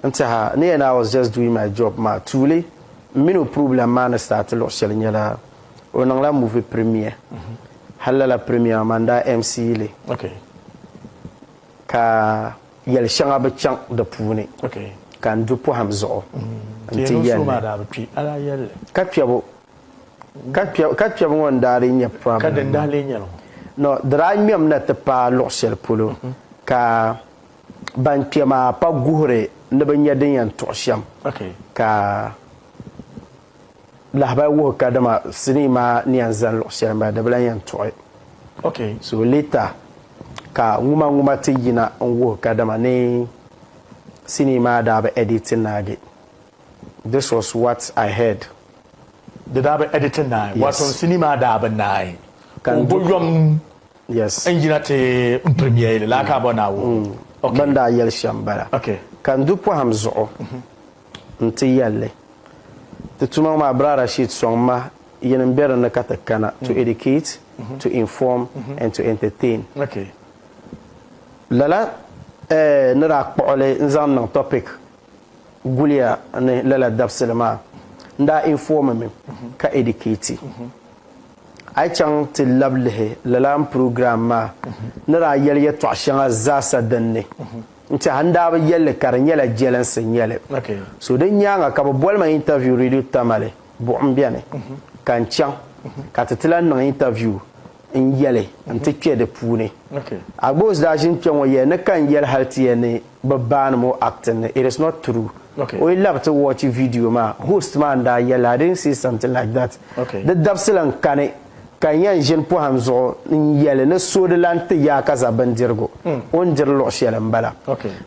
N tiɛha ni yɛn I was just doing my job maa tuuli m mini o problem maa ni start luɣi shɛli nyɛla o niŋla movie premiere hali lala premiere maa man daa MC li ka yɛli shɛŋa bi chaŋ di puuni ka n du pɔhim zuɣu n ti yɛli li ka kpɛbu ka kpɛbu ŋɔ n daa lee nyɛ problem maa no di daa ŋmɛm na ti paai luɣi shɛli polo ka Ban kpe maa pa guhiri ni bɛ nya din yɛn tuɣi shɛm, ka lahibali wuhi ka dama sinii maa ni yɛn zani luɣ shɛli m-bala, di bi lan yɛn tuɣi. So later ka ŋumaŋuma ti yina n-wuhi ka dama ni sinii maa daa bi editi naagi. This was what I heard. Di daa bi editi naai, waato sinii maa daa bi naai, ka m bo yom. Yes. N yina ti n pirimiya yili laa ka a bɔ Naawuni. Mm. Bɛ ni daa yɛli shɛm m-bala. Okay. Ka n du pɔhim zuɣu nti yɛl li, Ti tuma ŋɔ maa, Bra Rashid sɔŋ ma yini m-be di ni ka ti kana, to educate, to inform, and to entertain. Okay. Lala eh, ni daa kpuɣi li n-zaŋ niŋ topic guliya ni lala dabisili maa, n daa informi mi ka educate. A yi chaŋ ti lab lihi lala n program maa ni daa yɛli yɛtɔɣ shɛŋa zaasa din ni n tɛha n daa bi yɛli li ka di nyɛla jɛlinsi n nyɛli. So din nyaaŋa ka bɛ boli ma interview Radio Tamale buɣim bɛni ka n chaŋ ka ti ti lan niŋ interview n yɛli n ti kpe di puuni. Agboosi daa ʒini kpe ŋɔ yɛli ni ka n yɛli hal ti yɛli ni bɛ baanim o acting ni it is not true o yi labi ti watch video maa host maa n daa yɛli I didn't see something like that di dabisili n kani ka n yɛn ʒini pɔhim zuɣu n yɛli ni so di lan ti yaa ka za bindirigu o ni diri luɣ shɛli m-bala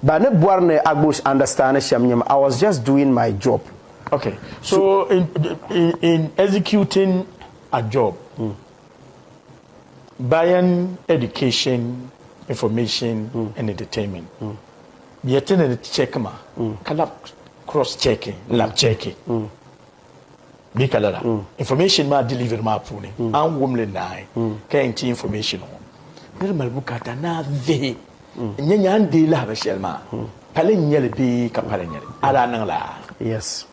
ba ni bɔri ni Agbush understand shɛm nyɛm I was just doing my job Okay so in in in executing a job. Bayan Education Information and Entertainment bɛ ti ni ti check ma ka lab cross check lab check bɛ ka lala information maa delivery maa puuni an wum li naai ka yɛn ti information ŋɔ niri mali bukata naa vihi n nya nyaa n deei lahibali shɛli maa pali n nyɛli bee ka pali n nyɛli a daa niŋla yes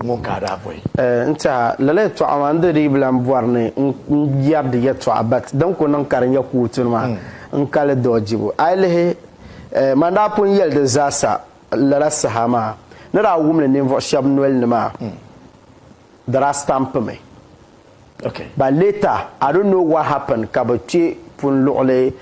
ŋun ka a daa bɔhi. N tɛha, lala yɛtɔɣa maa, n di di yi bi lan bɔri ni n yɛri di yɛtɔɣa, but din ku niŋ ka di nyɛ kootu ni maa, n ka li dɔɣijibu. A yi lihi, man daa pun yɛli di zaasa lala saha maa, ni daa wum li ninvuɣ shɛb nol ni maa, di daa stamp mi. Okay. But later I don't know what happened ka bɛ kpe pun luɣili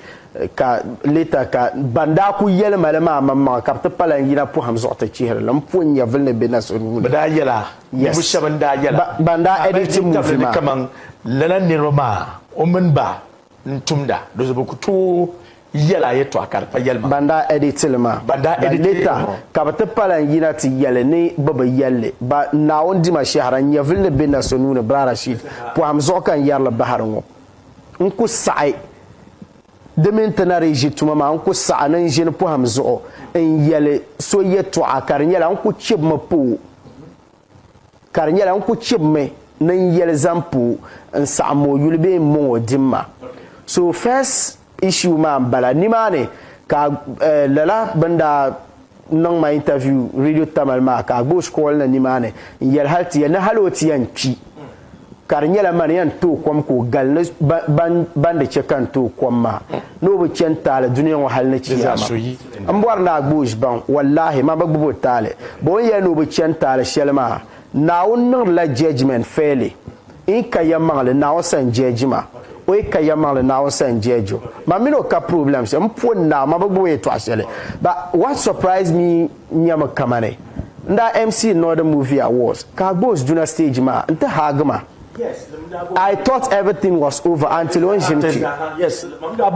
ka later ka ban daa kuli yɛli ma li maa maŋmaŋa ka bɛ ti pa lan yina pɔhim zuɣu ti chihiri li m-po n-nyɛvili ni be na so nuu ni. Bɛ daa yɛla? Yes. Ninvuɣ shɛba n-daa yɛla. Ba, ban daa editi movie maa. Ka bɛ tabili ni kaman lala niriba maa o mini ba n tumda di zuɣu bɛ ku tooi yɛla yɛtɔɣa ka di pa yɛlima. Ban daa editi li maa, Ban daa editi li maa. ka bɛ ti pa lan yina ti yɛli ni bɛ bi yɛli li. Ba Naawuni Dima Shɛhira nyɛvili ni be na so nuu ni Bra Rashid pɔhim zuɣu ka n yɛri li bahiri ŋɔ. N ku saɣi di mini ti na dii ʒi tuma maa n ku saɣi ni n ʒini pɔhim zuɣu n yɛli so yɛtɔɣa ka di nyɛla n ku chibimi pa o. Ka di nyɛla n ku chibimi ni n yɛli zaŋ pu n saɣim moo yuli bee m mɔŋɔ dimma. So first issue maa n bala. Nimaani ka eh, lala bɛn daa niŋ ma interview Radio Tamale maa ka a gba o shikɔɔli ni nimaani n yɛli hal ti yɛn ni hal o ti yɛn kpi ka di nyɛla man yan tooi kom ka o gali ni ban di chɛ ka n tooi kom maa ni o bi chɛ n taali dunia ŋɔ hal ni Chiyaama. M bɔri ni a gbi o ʒibaŋ, wallaahi, man bi gbib o taali. Bɔ o ni yɛli ni o bi chɛ n taali shɛli maa, Naawuni niŋdila judgement fairly. N yi ka yɛmmaŋli, Naawuni sani judge ma. O yi ka yɛmmaŋli, Naawuni sani judge o. Man min o ka problems. M puhi n Naa, man bi gbib o yɛtɔɣ shɛli. But what surprised me, nyɛmi kamani n daa MC Northern Movie Awards ka a gba o duna stage maa nti haagi ma. I thought everything was over until o ni ʒini kpi.